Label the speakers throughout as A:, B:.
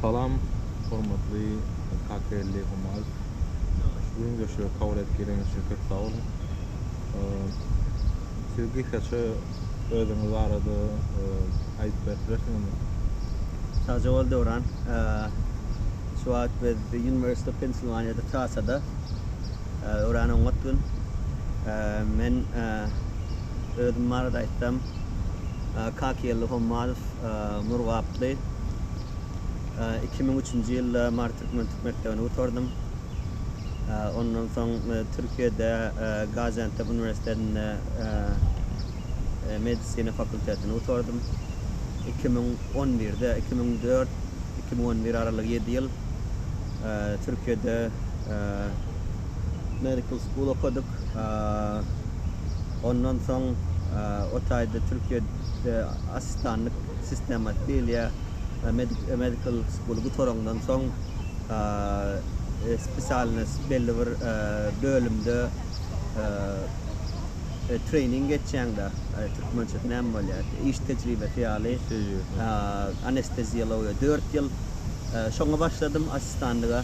A: Salam hormatly Kakelli Humalt. Şu gürleşigi kabul edip geleniz üçin köp sag boluň. Siz gysgaça özüňiz barada aýdyp berip bilersiňizmi? Sagja
B: bol Döwran. Şu wagt biz University of Pennsylvania da trassada. Örän oňat gün. Men. özüm barada aýtsam, Kakyýelli Hommalow, Murgaply. Iki müň üçünji ýylda Mary türkmen türk mekdebini gutardym. Ondan soň Türkiýede Gaziantep uniwersitetinde medisina fakultetini gutardym. Iki müň on birde, iki müň dört, iki müň on bir aralygy ýedi ýyl Türkiýede Medical School okadyk. Ondan soň o taýda Türkiýede asistanlyk sistematy diýilýär. Medical school gutarandan soň spesialnost belli bir bölümde treýning geçýäňde türkmençesi näme bolýar? Iş tejribesi ýaly. Iş tejribesi. Anesteziologiýa dört ýyl. Şoňa başladym asistanlyga.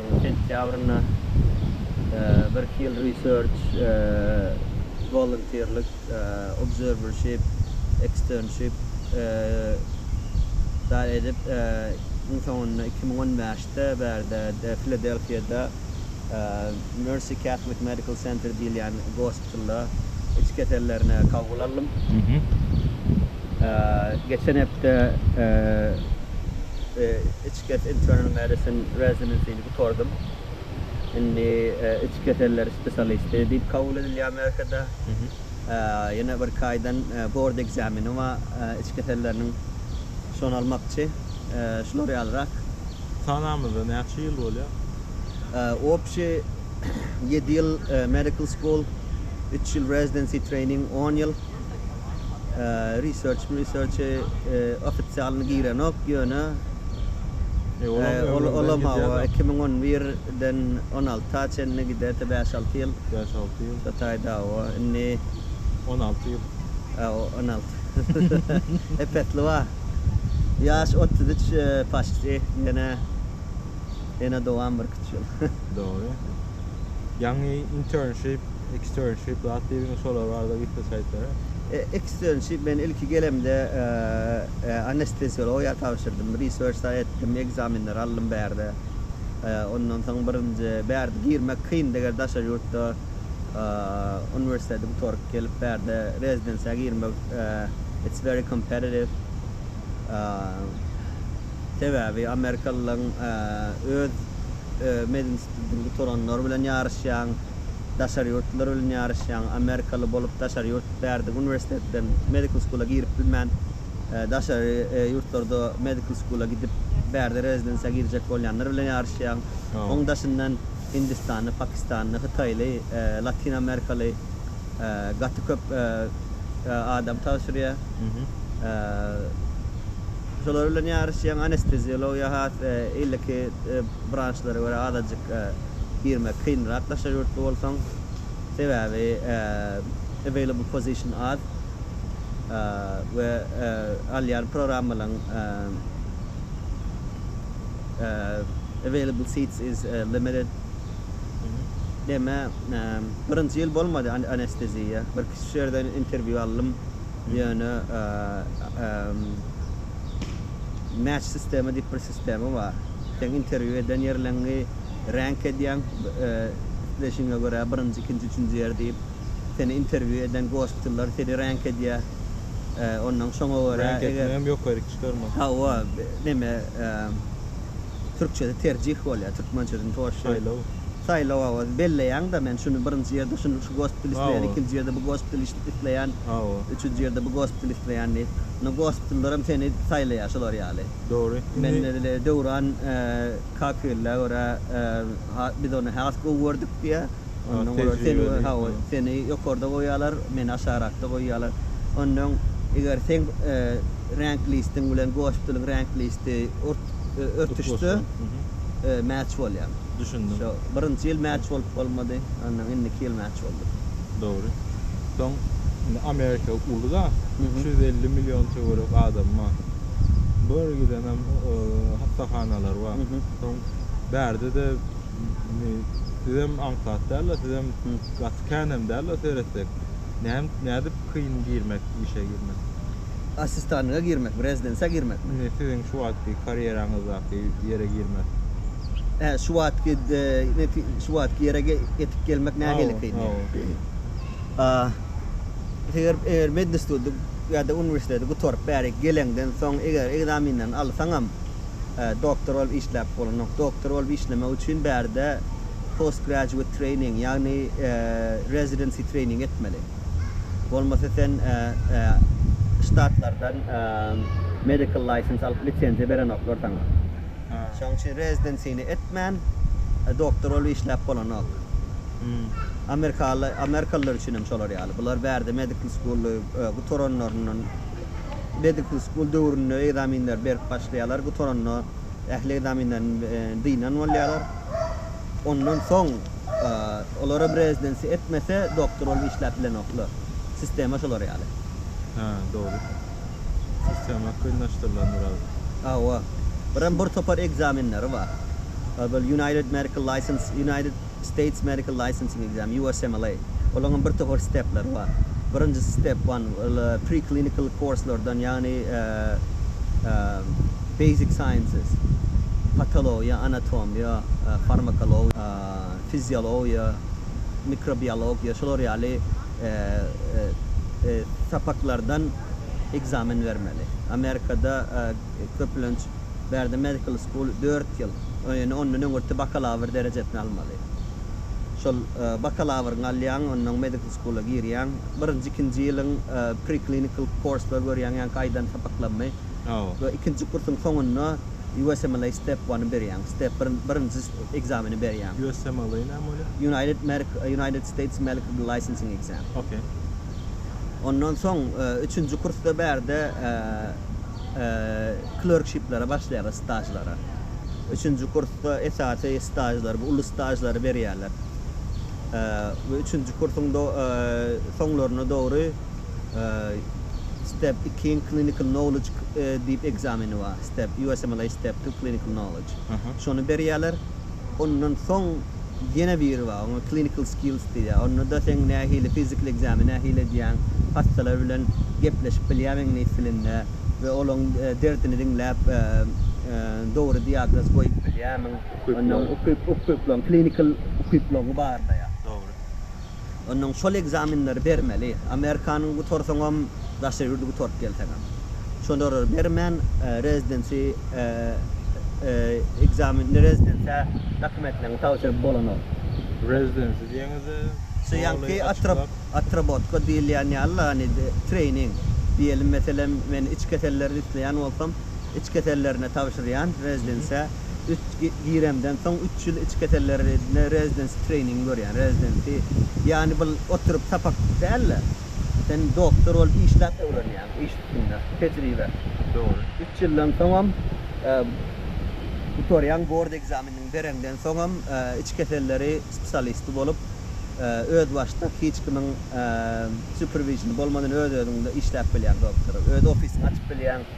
B: sentýabrynda bir Hill Research wolontýrlyk observership externship da edip, iň soňunda iki müň on bäşde bärde Filadelfiýada Mercy Catholic Medical Center diýilýän gospitalda iç kesellerine kabul aldym. Geçen hepde iç Get Internal Medicine Residencyni gutardym. Indi iç keseller spesialisti diýip kabul edilýär Merkede. Ýene birki aýdan bord ekzameni bar iç keselleriniň. Şony almakçy. Şular ýalyrak. Sanamyzda
A: näçe ýyl bolýar? Obşi
B: ýedi ýyl medical school, üç ýyl residency training, on ýyl. Research research ofisialyny girenok ýöne olam hawa iki müň on bir den on alta çenli giderdi bäş alty ýyl bäş alty ýyl şo
A: taýda hawa
B: indi on
A: alty ýyl on
B: alty epesli bar ýaş otuz üç paşti ýene ýene dowam birki üç ýyl dogry.
A: Ýaňy internship, externship zat diýdiňiz şolar barada gepleşik aýtara. Externship
B: men ilki gelemde anesteziologiýa tabşyrdym, research-da etdim, ekzamenleri aldym bärde. Ondan soň birinji bärde girmek kyndy eger daşary ýurtda uniwersiteti gutaryp gelip bärde rezidensiýa girmek it's very competitive. Sebäbi amerikalylaryň öz medinstitutyň gutaranlary bilen ýaryşýaň, daşary ýurtlular bilen ýaryşýaň, amerikaly bolup daşary ýurt bärde uniwersitetden medical school-a girip bilmän, daşary ýurtlarda medical school-a gidip bärde rezidensiýa girjek bolýanlar bilen ýaryşýaň. Oň daşyndan hindistanly, pakistanly, hytaýly, latin amerikaly gaty köp adam tabşyrýar. Şolar bilen ýaryşýan anesteziologiýa has iliki branşlara görä azajyk girmek kynrak daşary ýurtly bolsaň. Sebäbi available position az we alýan programmalaň available seats is limited. Deme birinji ýyl bolmady anesteziýa. Bir kiçi şu ýerden intervýu aldym. Ýöne match sistema diýip bir sistema bar. Sen interwýu eden ýerleňňi rank edýäň, isleşigiňe görä birinji, ikinji, üçünji ýer diýip. Seni interwýu eden gospitller seni rank edýä. Onnoň şoňa görä eger. Rank etmek hem ýokaryk
A: çykarmak. Hawa,
B: neme, türkçesi terjih bolýa, türkmençesini toşşa. Saýlaw. Saýlaw owazy belleýäňda men şuny birinji ýerde şuny şu gospiteli isleýän ikinji ýerde bu gospiteli işlik isleýän üçünji ýerde bu gospiteli isleýän diýip indi gospitellerem seni saýlaýar şular ýaly Dogry men
A: edil
B: Döwran kakylla görä biz ony has gowy gördük diýä ondan görä seni hawa
A: seni ýokarda
B: goýýalar meni aşarakda goýýalar ondan eger seň rank listiň bilen gospiteliň rank listi örtüşse match bolýaň. Düşündim. Şo birinji
A: ýyl mäç
B: bolup bolmady. Ondan indiki ýyl mäç boldy. Dogry.
A: Soň indi Amerika uly da, üç ýüz elli million töwerek adamy bar. Bu ýere gidenem hassahanalar bar. Soň bärde-de indi sizem aňsat däl-de, sizem gaty känem däl-de seretsek. Näme nädip kyn girmek, işe girmek? Assistanyňa
B: girmek, rezidensa girmek. Indi siziň şu wagtky
A: karýeraňyzdaky ýere girmek. Hä, şu wagtky
B: şu wagtky ýere ýetip gelmek nähili kyn ýeri? A. Eger eger medinstituty ýa-da uniwersiteti gutaryp bärik geleňden soň eger ekzamenlerini alsaňam doktor bolup işläp bolanok. Doktor bolup işlemek üçin bärde postgraduate training ýagny residency training etmeli. Bolmasa sen ştatlardan medical license alyp lisenziýa berenoklar saňa. Şoň üçin rezidensiýni etmän doktor bolup işläp bolanok. Amerikalylar üçin hem şolar ýaly. Bular bärde medical school-y gutaranlaryndan medical school döwründe ekzaminleri berip başlaýarlar, gutaranda ähli ekzaminlerden dynan bolýarlar. Ondan soň. Olar hem rezidensi etmese doktor bolup işläp bilenoklar. Sistema şolar ýaly. Hä, dogry.
A: Sistema kynlaşdyrylandyr az. Hawa. Birem
B: bir topar ekzamenleri bar. Ol bir United Medical License, United States Medical Licensing Exam, USMLE. Olaryň hem bir topar stepleri bar. Birinjisi step one, ol pre-clinical course-lardan, ýagny basic sciences, patologiýa, anatomiýa, farmakologiýa, fiziologiýa, mikrobiologiýa şular ýaly sapaklardan ekzamen bermeli. Amerikada köplenç bärde medical school dört ýyl, ýöne ondan öňürti bakalawr derejesini almaly. Şol bakalawryňy alýaň, ondan medical school-a girýäň. Birinji, ikinji ýylyň pre-clinical course-lary görýäň, ýaňky aýdan sapaklaryny we ikinji kursuň soňunda USMLE step one-y berýäň. Step bir, birinji. ekzameni berýäň. USM ýaly näme
A: bolýar? United Merc United States Melcred
B: Licensing Exam. Okey. Ondan soň üçünji kursda bärde klerkshiplere başlaýarlar, stažlara. Üçünji kursda esasy stažlar, bu uly stažlary berýärler. We üçünji kursuň do soňlaryna dogry step ikiň clinical knowledge diýip ekzameni bar. Step USMLE step two clinical knowledge. Şony berýärler. Ondan soň ýene biri bar. Oňa clinical skills diýilýär. Onda-da seň nähili physical exam-y nähili edýäň, hassalar bilen gepleşip bilýärmiň iňlis dilinde we olaryň derdini diňläp, dogry diagnoz goýup bilýärmiň. Ondan ukyplaryň, clinical ukyplaryňy barlaýar. Dogry.
A: Onnoň
B: şol ekzamenleri bermeli. Amerikany gutarsaňam, daşary ýurdy gutaryp gelseňem. Şolara bermän, rezidensi ekzamen, rezidensiýa dokumentleňi tabşyryp bolanok. Rezidensi
A: diýeňiz-ä, Şu ýaňky
B: atrap, atrabotka diýilýän ýaly-la, hany, treýning. Diýelim, meselem, men iç keselleri isleýän bolsam, iç kesellerine tabşyrýan, rezidensiýa. Üç giremden soň üç ýyl iç kesellerine rezidensi treýningi görýän, rezidensi. Ýany bul oturyp sapak dälde. Sen doktor bolup işläp öwrenýäň, iş üstünde, tejribe. Dogry. Üç
A: ýyldan soňam
B: gutarýaň, bord ekzamenini bereňden soňam iç keselleri spesialisti bolup özbaşdak hiç kimiň superviziony bolmadan öz-özüňde işläp bilýäň doktor. Öz ofisiňi açyp bilýäň.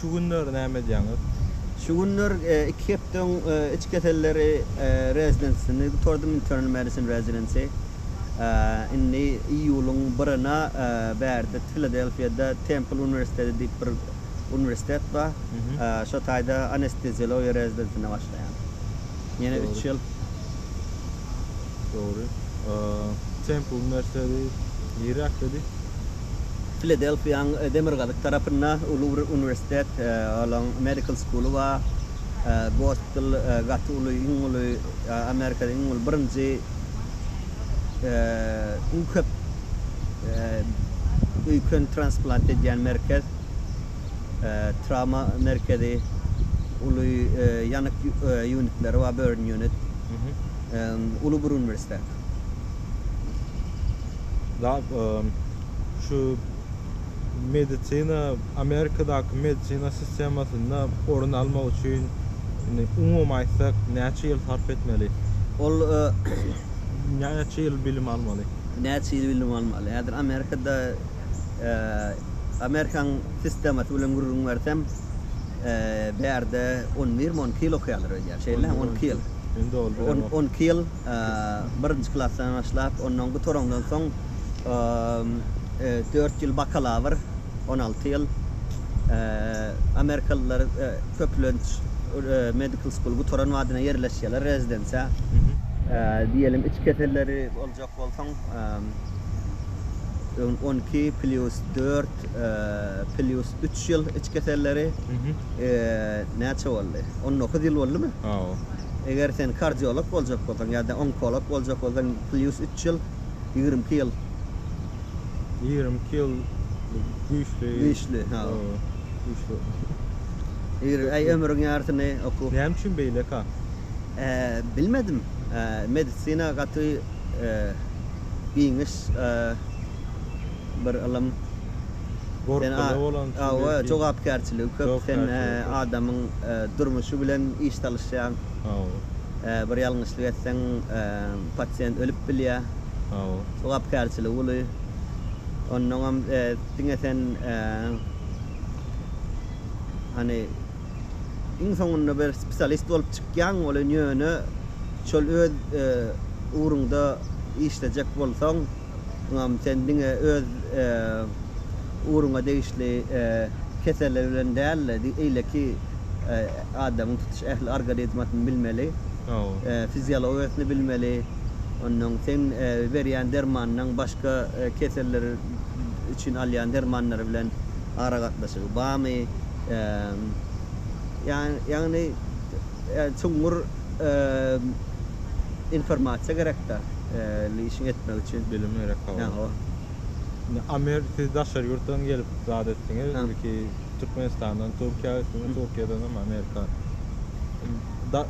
A: Şu günler näme edýäňiz? Şu günler
B: iki hepdeň iç keselleri rezidensyny gutardym, internal medicine residency. Indi iýulyň birine bärde Filadelfiýada Templ uniwersiteti diýip bir uniwersitet bar. Şo taýda anesteziologiýa rezidensyna başlaýan. Ýene üç ýyl.
A: Dogry. Templ uniwersiteti niräkdedi?
B: Filadelfiýanyň demirgazyk tarapynda uly bir uniwersitet, olaň Medical School-y bar. Gospitall gaty uly, iň uly, Amerikada iň uly, birinji, iň köp öýken transplant edýän merkez, trawma merkezi, uly ýanyk ýunitleri bar, burn unit. Uly bir uniwersitet.
A: Dap şu medisina Amerikadaky medisina sistemasynda orun almak üçin indi umumy aýtsak näçe ýyl sarp etmeli? Ol näçe ýyl bilim almaly? Näçe ýyl bilim
B: almaly? Häzir Amerikada Amerikanyň sistemasy bilen gürrüň bersem bärde on birmi on iki ýyl okaýarlar öýdýän şeýle on iki ýyl. Indi oldu. On iki ýyl. birinji klasdan başlap, ondan gutaraňdan soň dört ýyl bakalawr, on alty ýyl, amerikalylar köplenç medical school gutaran badyna ýerleşýärler, rezidensiýa. Diýelim, iç keselleri boljak bolsaň, on iki plýus dört plýus üç ýyl iç keselleri näçe boldy? On dokuz ýyl boldumy? Eger sen kardiolog boljak bolsaň ýa-da onkolog boljak bolsaň plýus üç ýyl, ýigrimi iki ýyl.
A: Ýigrimi iki ýyl bu güýçli.
B: Güýçli, ha. Güýçli. Ýigrimi, aý ömrüň ýarysyny okuw. Näme üçin beýleka? Bilmedim. Medisina gaty giňiş bir ylym.
A: Sen a, hawa, jogapkärçiligi
B: köp, sen adamyň durmuşy bilen iş salyşýaň. Hawa. Bir ýalňyşlyk etseň, pasient ölüp bilýär. Hawa. Jogapkärçiligi uly. Onnoňam diňe sen, hany, iň soňunda bir spesialist bolup çykýaň welin ýöne şol öz ugruňda işlejek bolsaň, Ynham sen diňe öz ugruňa degişli keseller bilen däl-de, eýleki adamyň tutuş ähli organizmasyny bilmeli, fiziologiýasyny bilmeli, onnoň seň berýän dermanyňyň başga keseller üçin alýan dermanlar bilen aragatnaşygy barmy, ýagny çuňňur. Informasiýa gerek da işiň etmek üçin. Bilim gerek hawa.
A: Ýa hawa. Amer siz daşary ýurtdan gelip zat etdiňiz. Ilki Türkmenistandan Türkiýä ötdüňiz, Türkiýeden hem Amerika. Da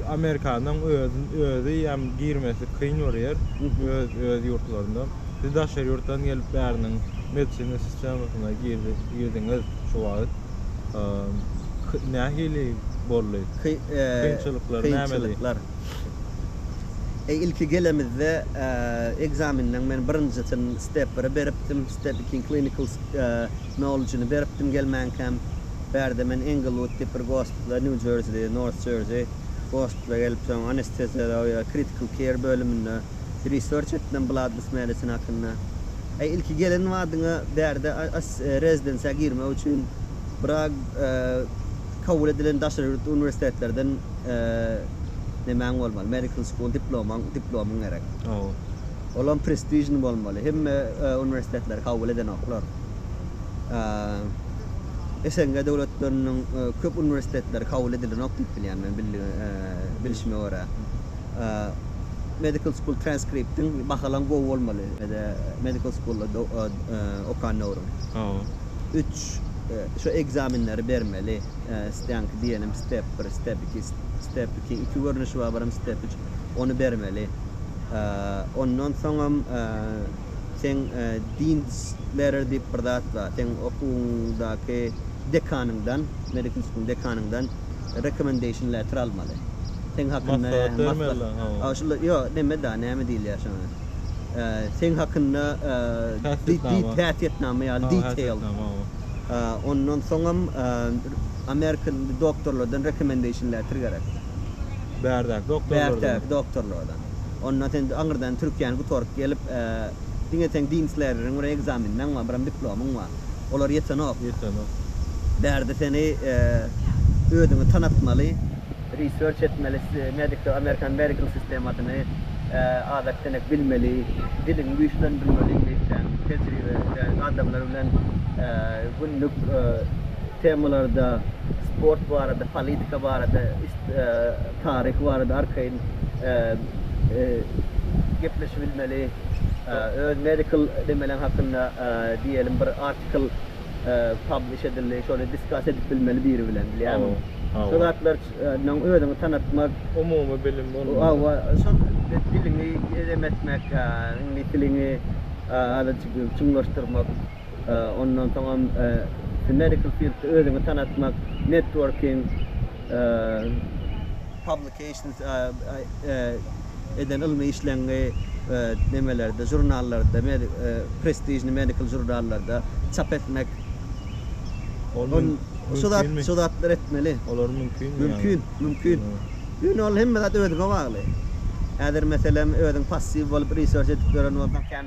A: Amerikanyň özi özi hem girmesi kyn bir ýer. Öz öz ýurtlarynda. Siz daşary ýurtdan gelip bäriniň medisina sistemasyna girdi girdiňiz şu wagt. nähili boldy? Kynçylyklar
B: nämedi? Ilki gelemizde ekzamenden men birinjisini step biri beripdim, step ikiň clinical knowledge-ni beripdim gelmänkäm. Bärde men Englewood diýip bir gospitala, New Jersey, North Jersey gospitala gelip, soň anesteziologiýa, critical care bölüminde. She research it them blood with medicine hakynda. Eý ilki gelen badyňa bärde as rezidensiýa girmek üçin brak kabul edilen daşary ýurt uniwersitetlerden nemäň bolmaly medical school diplomaň diplomyň gerek. Olam prestižny bolmaly. Hemme uniwersitetler kabul edenoklar. SNG döwletleriniň köp uniwersitetleri kabul edilenok diýip bilýän men bilişime görä. Medical school transcriptiň bahalan gowy bolmaly. Mede medical schoolda do e, e, okan döwrüň. Hawa. Üç e, şu ekzamenleri bermeli. E, Stänki diýenim step 1, step 2, step 2 iki görnüşi bar, birem step 3. Ony bermeli. E, Ondan soňam e, seň e, dean's letter diýip bir zat bar. Seň okuwyňdaky dekanyňdan, medical school dekanyňdan Recommendation letter almaly. Seň hakynda Maslahat bermeli, maslahat. hawa. A, şul, ýo, neme da, näme diýilýär şoňa? E, seň hakynda e, di, di, Häsiýetnama. häsiýetnama ýaly, Hawa, detail. häsiýetnama, hawa. E, ondan soňam e, American doktorlardan recommendation letter gerek.
A: Bärdäki
B: doktorlardan. Bärtäki doktorlardan. Onda sen aňyrdan türkiýäni gutaryp gelip, e, diňe seň Dean's letter-iň bir ekzameniň bar, bir hem diplomyň bar. Olar ýetenok. Ýetenok. Bärde seni özüňi tanatmaly. Research etmeli, medical, American medical sistemasyny azak denek bilmeli, diliňi güýçlendirmeli iňlisçäň, tejribe, ýagny adamlar bilen günlük temalarda, sport barada, politika barada, taryhy barada arkaýyn gepleşibilmeli, öz medical nemeleň hakynda diýelim bir article publish edildi, şony discuss edip bilmeli biri bilen bilýäňmi? Hawa. Şo zatlar nyň özüňi tanatmak, Umumy bilim
A: bolmaly. Hawa, şol
B: diliňi edem etmek, iňlis diliňi azajyk çuňlaşdyrmak. ondan soňam Medical field özüňi tanatmak, networking, publications eden ylmy işleňňi nemelerde žurnallarda prestižni medical žurnallarda çap etmek şu zatlary etmeli. Olar
A: mümkinmi? Mümkin,
B: mümkin. Ýöne ol hemme zat özüňe bagly. Häzir meselem özüň passiw bolup research edip ýören bolsaň,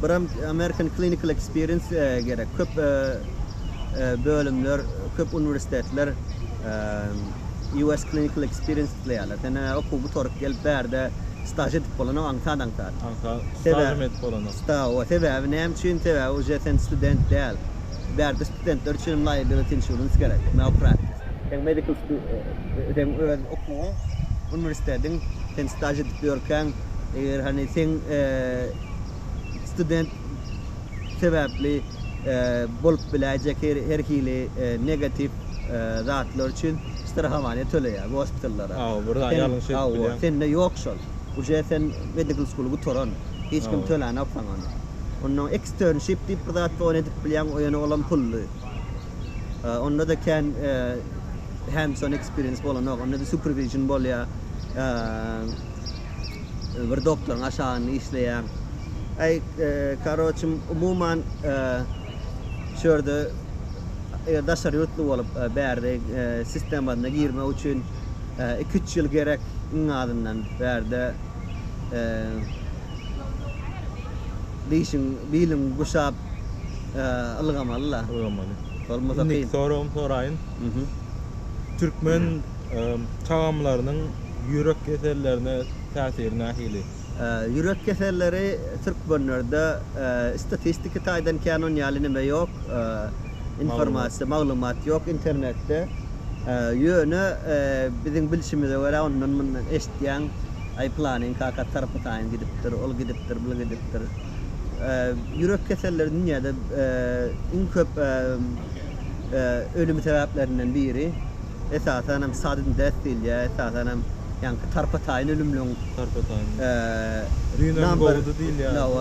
B: Buram American Clinical Experience gerek. Köp bölümler, köp uniwersitetler US Clinical Experience isleýärler. Sen eger okuw gutaryp gelip bärde staž edip bolanyň aňsat aňsat. Aňsat
A: stažym edip bolanyň. Staž, sebäbi
B: näme üçin? Sebäbi uje sen student däl. Bärde studentler üçin liability insurance gerek, malpractice. Seň medical, seň öz okuwyň, uniwersitetiň, sen staž edip ýörkäň, Eger hany seň student sebäpli bolup biläýjek her hili negatiw zatlar üçin strahowaniýa töleýär gospitallara.
A: Sende ýok şol.
B: Uje sen medical school gutaran. Hiç kim tölänok saňa ony. Ondan eksternship diýip bir zat bar ony edip bilýäň ýöne olam pully. onda-da kän hands on experience bolanok, onda-da supervision bolýar, bir doktoryň aşagynda işleýäň. Aý, karoçym, umuman, şu ýerde, eger daşary ýurtly bolup, bärde sistemasyna girmek üçin iki-üç ýyl gerek iň azyndan, bärde dişiň, biliň guşap, Ylgamaly la. Ylgamaly. Bolmasa kyn. Indiki soragym
A: soraýyn. Türkmen tagamlarynyň ýürek kesellerine täsiri nähili? Ýürek
B: keselleri türkmenlerde statistiki taýdan kän on ýaly neme ýok. Informasiýa, maglumat ýok internetde. Ýöne biziň bilşimize görä ondan-mundan eşitýäň, aý pylanyň kakasy tarapa taýyn gidipdir, ol gidipdir, bul gidipdir. Ýürek keselleri dünýäde iň köp ölüm sebäplerinden biri. Esasan hem sudden death diýilýär. Esasan hem ýaňky tarpa-taýyn ölümleriň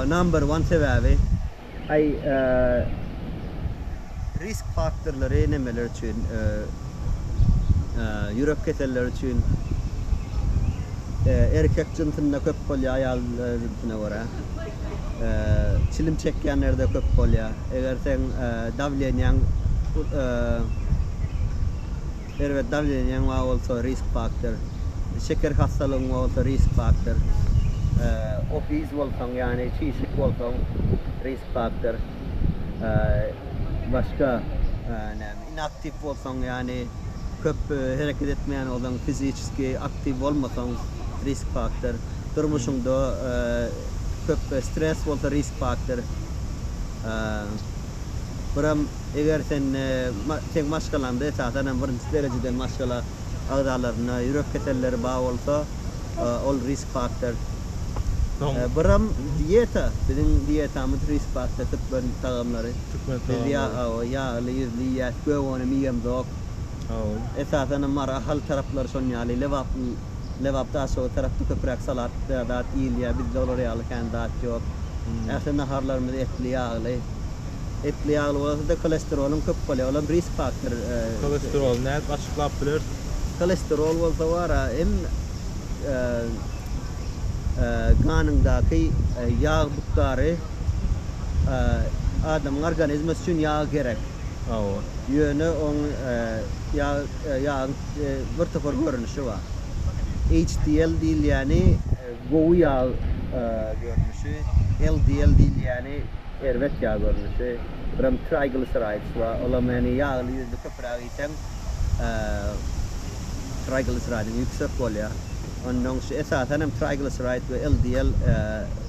B: number one sebäbi. Aý, Risk faktorlary nämeler üçin ýürek keselleri üçin erkek jynsynda köp bolýar, aýal jynsuna görä? Çilim çekýänlerde köp bolýar. Eger seň dawleniýaň erbet dawleniýaň bar bolsa risk faktor. Şeker hassalygyň bar bolsa risk faktor. Obese bolsaň ýagny çişik bolsaň risk faktor. başga näme inaktiw bolsaň ýagny köp hereket etmeýän ozan fiziçeski aktiw bolmasaň risk faktor durmuşyňda köp stres bolsa risk faktor buram eger sen seň maşgalaňda esasanam birinji derejeden maşgala agzalaryna ýürek keselleri bar bolsa. Ol risk faktor. Biram diýeta, biziň diýetamyz risk faktor türkmen tagamlary. Türkmen tagamlary. Biz ýa awa ýagly ýüzli iýýäs, gögönem iýemzok. Awa. Esasan hem Mary Ahal taraplary şon ýaly. Lebap Lebap Daşoguz tarapda köpüräk salat zat iýilýär. Bizde olar ýaly kän zat ýok. Ähli naharlarymyz etli ýagly. Etli ýagly bolsa-da holesteroluň köp bolýar. Olam risk faktor. Holesteroly
A: nädip açyklap bilersiň?
B: Holesterol
A: bolsa
B: wara hem ganyňdaky ýag bukdary adamyň organizmi üçin ýag gerek. Hawa.
A: Ýöne oň
B: ýagyň bir topar görnüşi bar. HDL diýilýäni. Gowy ýag görnüşi, LDL diýilýäni, erbet ýag görnüşi, birem trigliseroids we olam ýani ýagly ýüzli köpüräk iýseň trigliseroidiň ýüksek bolýar. Ondan şu esasan hem trigliseroid we LDL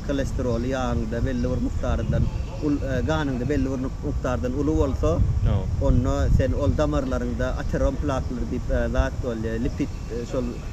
B: kolesteroly ýagyňda belli bir mukdardan ul ganyňda belli bir mukdardan uly bolsa, onda sen ol damarlaryňda aterom plaklar diýip zat bolýar, lipid şol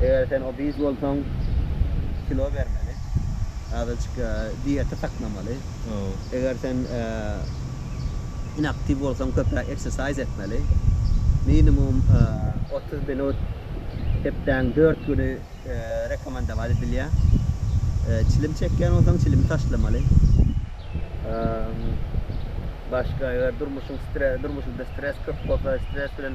B: Eger sen obeez bolsaň kilo bermeli. Azajyk dieta saklamaly. Eger sen inaktiw bolsaň köpräk eksersaýz etmeli. Minimum otuz minut hepdäň dört güni rekomendować edilýär. Çilim çekýän bolsaň çilimi taşlamaly. Başga eger durmuşyňda stres köp bolsa stres bilen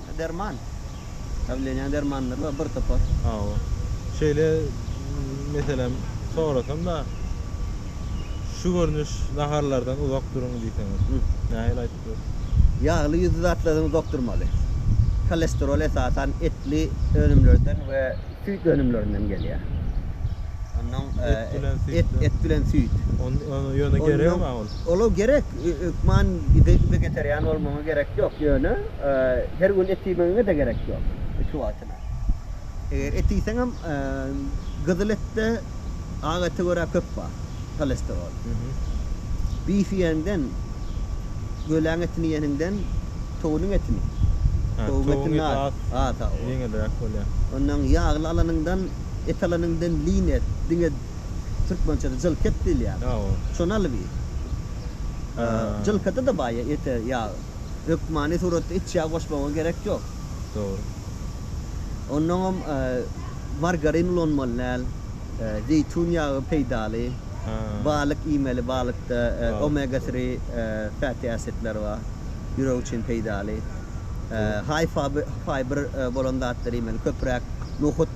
B: Derman. Dawleniýaň dermanlary bar bir topar. Hawa. Şeýle
A: meselem sorasam-da, şu görnüş naharlardan uzak duruň diýseňiz, nähili aýdyp bileris? Ýagly ýüzli
B: zatlardan uzak durmaly. Holesterol esasan etli önümlerden we süýt önümlerinden gelýär. Ondan
A: et bilen süýt. Ýöne gerekmi ol? Olar gerek.
B: Hökman ýüze getirýän bolmagyňa gerek ýok, ýöne her gün et iýmegiňe-de gerek ýok, iki wagtyna. Eger et iýseňem, gyzyl etde ak ete görä köp bar holesterol. Bif iýenden, göläň etini iýeniňden towunyň etini, towuň etini az, ýeňilräk bolýar. Ondan ýagly alanyňdan, et alanyňdan lin et, diňe Türkmençede jylket diýilýär. Hawa. Şony alyp iý. Jylkada-da baý ete ýag. Hökmany suratda iç ýag goşmaga gerek ýok. Dogry. Onnoňam margarin ulanmaly däl. Zeýtun ýagy peýdaly. Balyk iýmeli, balykda omega three fatty acid-ler bar. Ýürek üçin peýdaly. High fiber bolan zatlary iýmeli, köpräk nohut.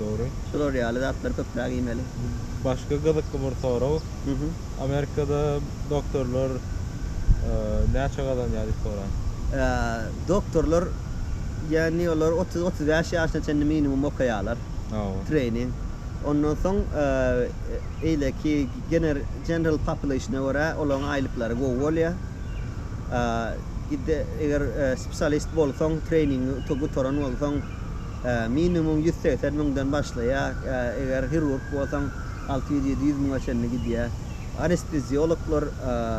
A: Dogry. Şular ýaly
B: zatlary köpräk iýmeli. Başga gyzykly
A: bir sorag. Amerikada doktorlar näçe gazanýar diýip soraýyn.
B: Doktorlar ýagny olar otuz, otuz bäş ýaşyna çenli minimum okaýarlar. Treýning. Ondan soň eýleki gener, general population-a görä olaryň aýlyklary gowy bolýar. Eger spesialist bolsaň, treýningi gutaran bolsaň, Minimum ýüz segsen müňden başlaýar, eger hirurg bolsaň, alty ýüz, ýedi ýüz müňe çenli gidýär. Anesteziologlar.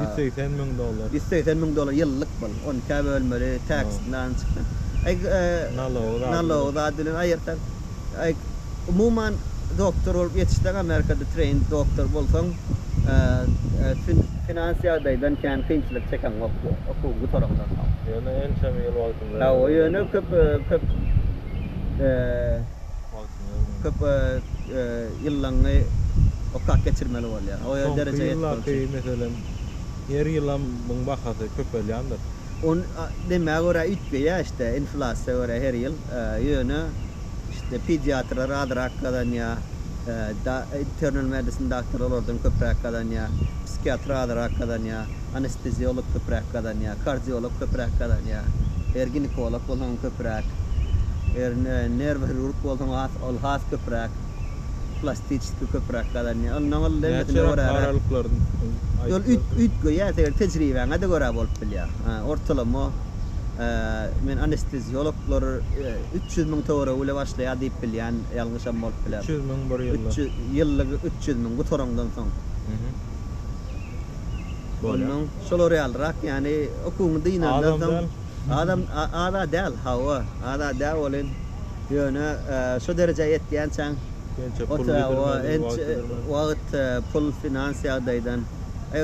B: Ýüz segsen müň dollar. Ýüz segsen müň dollar ýyllyk bul. Ony ikä bölmeli, tax-dan çykdy. Nalogy zady bilen. Nalogy zady bilen aýyrsak. Umuman, doktor bolup ýetişseň, Amerikada trained doktor bolsaň, finans ýagdaýdan kän kynçylyk çekeňok, okuwyň gutarandan soň. Ýöne ençeme
A: ýyl wagtyň.
B: Hawa ýöne köp köp köp ýyllaňňy okap geçirmeli bolýar. O ýerde derejä ýetmek üçin. Soňky ýyllarky meselem
A: her ýylam muň bahasy köpelýändir. Ony
B: demä görä üýtgeýä işte inflasiýa görä her ýyl ýöne işte pediatrlar azrak gazanýa da internal medicine daktarlar olardan köpräk gazanýa psikiatr azrak gazanýa. anesteziolog köpräk gazanýar, kardiolog köpräk gazanýar, eger ginekolog bolsaň köpräk, eger nerwohirurg bolsaň has ol has köpräk, plastiçeskiý köpräk gazanýar. Ol nol degmesine görä. Näçe aralyklaryn aýtsaň. Ol üýtgeýär, seň tejribeňe-de görä bolup bilýär. Ortalama men anesteziologlar üç ýüz müň töweregi bile başlaýar diýip bilýän, ýalňyşam bolup biler. Üç ýüz müň bir
A: ýylda. Ýyllyk üç
B: ýüz müň gutaraňdan soň. Ondan şolar ýalyrak, ýagny okuwyňy dynandan soň adam az-a däl, hawa, az-a dä welin, ýöne şu derejä ýetýänçäň, wagt, pul, finans ýagdaýdan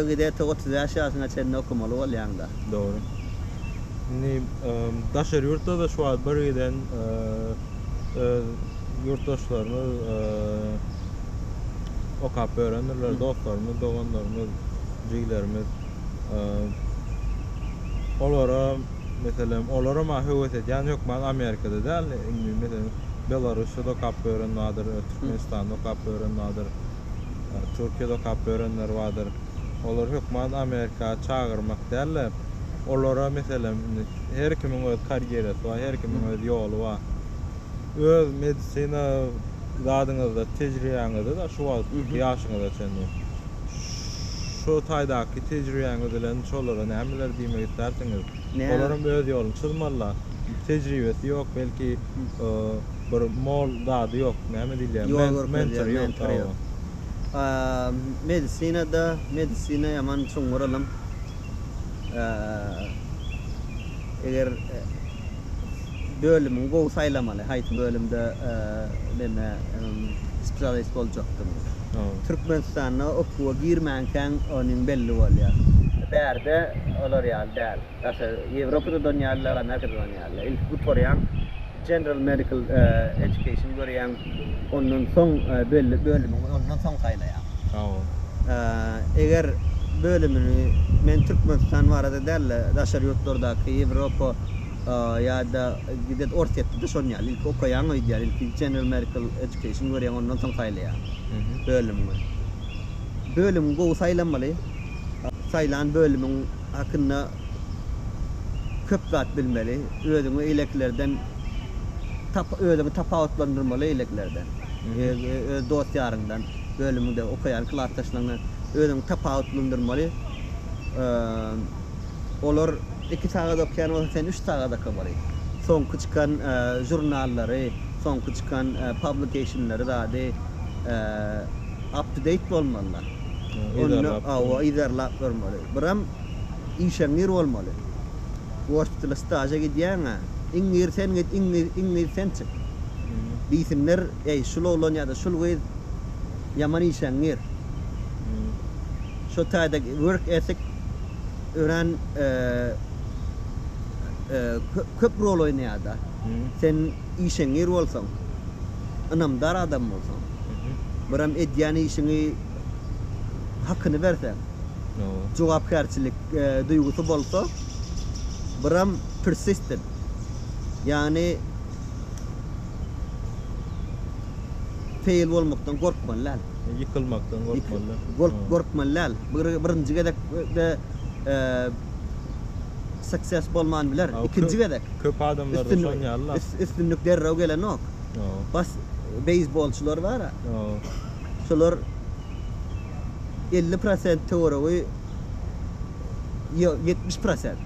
B: gide-te otuz bäş ýaşyňa çenli okamaly bolýaň-da. Dogry.
A: Indi daşary ýurtda-da şu wagt birgiden öz ýurtdaşlarymyz, okap örendirler, dostlarymyz, doganlarymyz, jigilerimiz. Olara, meselem, olara maňa höwes edýän hökman Amerikada däl, indi, meselem, Belarusda okap ören bardyr, Türkmenistanda okap ören bardyr, Türkiýede okap örenler bardyr. Olar hökman Amerika çagyrmak däl-de, olara meselem indi her kimiň öz karýerasy bar, her kimiň öz ýoly bar. Öz medisina zadyňyzda, tejribeňizde-de şu wagt ýaşyňyza çenli şu taýdaky tejribeňiz bilen şolara nämeler diýmek istersiňiz? Olar hem öz ýoluny çyzmalylar. Tejribesi ýok, belki bir mol zady ýok, näme diýilýär, mentory ýok. Medisinada
B: medisina ýaman çuňňur ylym. Eger bölümiňi gowy saýlamaly, haýsy bölümde neme spesialist boljakdygyňy. Türkmenistanda okuwa girmänkäň onuň belli bolýar. Bärde olar ýaly däl. Daşary Ýewropada da on ýaly, Amerikada da on ýaly. Ilki gutarýaň, General Medical Education görýäň, ondan soň belli bölümiňi ondan soň saýlaýaň. Hawa. Eger bölümini men Türkmenistan barada däl-de, daşary ýurtlardaky, Ýewropa ýa-da gidet Orsýetde-de şonuň ýaly, ilki okaýaň öýdýän, ilki General Medical Education görýäň, ondan soň saýlaýaň bölümiňi. Bölümiňi gowy saýlamaly, saýlan bölümiň. hakynda köp zat bilmeli, özüňi eýlekilerden tap özüňi tapawutlandyrmaly eýlekilerden, öz dost-ýaryňdan, bölümiňde okaýan klasdaşlaryňdan özüňi tapawutlandyrmaly, olar iki sagat okaýan bolsa, sen üç sagat okamaly, soňky çykan žurnallary, soňky çykan publication-lary zady up to date bolmalylar, hawa yzarlap görmeli. Buram işeňňir bolmaly. Ors dili staža gidýäň-ä. Iň gir sen git, iň gir, iň gir sen çyk. Diýsinler, Eý, şul oglan ýa-da şul gyz ýaman işeňňir. Şo taýda work ethic örän köp rol oýnaýar-da. Sen işeňňir bolsaň, ynamdar adam bolsaň, buram edýän işiňi hakyny berseň. jogapkärçilik duýgusy bolsa biram persistent ýagny feýl bolmakdan gorkmaly däl. Ýykylmakdan
A: gorkmaly däl. Gork gorkmaly däl.
B: Birinji gezekde success bolman biler. Ikinji gezek. Köp adamlarda
A: şon ýaly-la. Üstünlik derrew
B: gelenok. Bas beýsbolçylar bar-a. Şolar elli prosent töweregi ýok, ýetmiş prosent.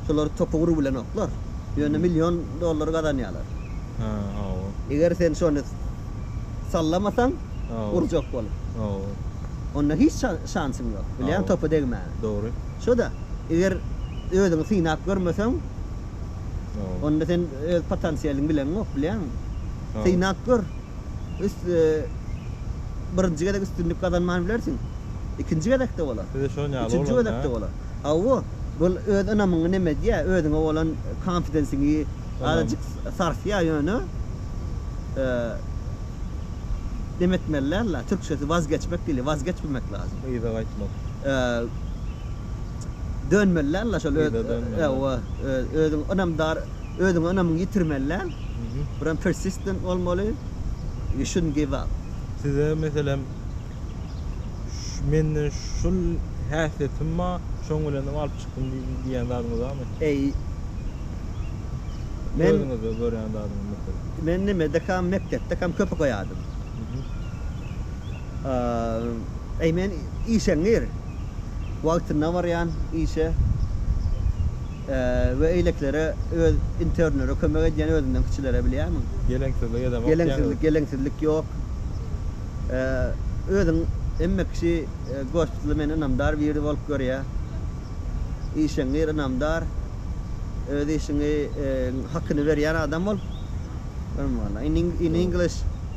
B: Şolar topy urup bilenoklar. Ýöne million dollar gazanýarlar. Hä, hawa. Eger sen şony sallamasaň, Hawa. urjak bolup. Hawa. Onda hiç şa, şansyň ýok, bilýäň, Hawa. topa degmäge. Dogry. Şo-da, eger özüňi synap görmeseň, Hawa. onda sen öz potensialyňy bileňok, bilýäňmi? Hawa. Synap gör. Birinji gezek üstünlik gazanman bilersiň. Ikinji gezekde bolar. Size şon ýaly bolar. Üçünji gezekde
A: bolar.
B: Hawa, bu öz ynamyňy neme edýär, özüňe bolan konfidensiňi azajyk sarsýar, ýöne neme etmeliler la, türkçesi wazgeçmek diýilýär, wazgeçmemek lazym. Yza gaýtmak. Dönmeliler la şol öz hawa
A: özüň
B: ynamdar özüňe ynamyňy ýitirmeliler. Buram persistent bolmaly you shouldn't give up. Size meselem
A: menden şul häsiýetim ba şoň bilenem alyp çykdym diýýän zadyňyz barmy? Eý
B: men özüňizde görýän
A: zadyňyz meselem. Men nimedekam
B: mekdepdekam köp okaýadym. Eý men işeňňir. wagtynda barýan işe we eýleklere öz internlere kömek edýän özünden kiçilere bilýärmiň?
A: Geleňsizlik edemok diýýäňizmi? Geleňsizlik, geleňsizlik
B: ýok. Özüň hemme kişi Gospitly meni ynamdar biri bolup görýär. Işeňňir, ynamdar, öz işiňi hakyny berýän adam bol. Görme walla. In English.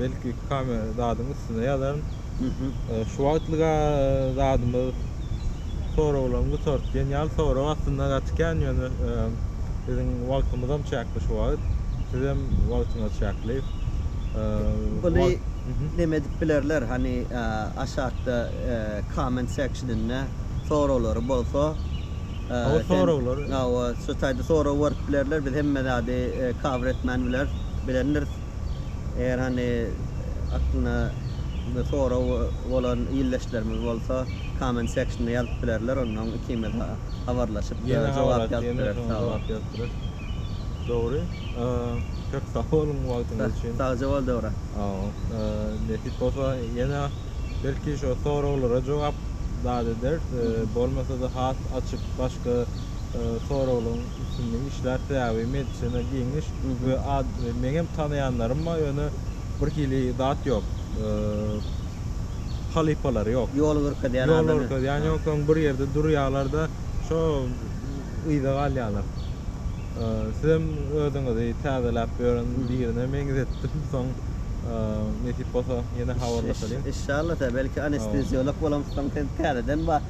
A: Belki kame zadyň üstüne ýazaryn. Şu wagtlyga zadymyz soraglaryň gutardy. Genial sorag aslynda gaty kän ýöne biziň wagtymyzam çäkli şu wagt. Sizem wagtyňyz çäkli.
B: Buly neme edip bilerler hany aşakda comment sectioninde soraglary bolsa. Hawa
A: soraglar. Hawa şu
B: taýda sorag berip bilerler biz hemme zady cover etmän bileris. Bilendiris. Eger hany aklyna bir sorag bolan ildeşlerimiz bolsa comment sectionda ýazyp bilerler ondan ikimiz habarlaşyp jogap ýazyp bileris sag boluň. Dogry
A: köp sag boluň wagtyňyz üçin. Sagja bol Döwran. Nesip bolsa ýene belki şo soraglara jogap dat ederis bolmasa-da has açyk başga soraglaryň Üstünde işlär sebäbi medisina giň iş we meňem tanaýanlarym bar ýöne bir hili zat ýok halypalary ýok ýol görkezýän ýol
B: görkezýän ýok soň
A: bir ýerde durýarlarda şo yza galýarlar sizem özüňizi täzeläp ýören birine meňzetdim soň nesip bolsa ýene habarlaşalyň. Inşallah belki
B: anesteziolog bolamyzsoň sen täzeden bar.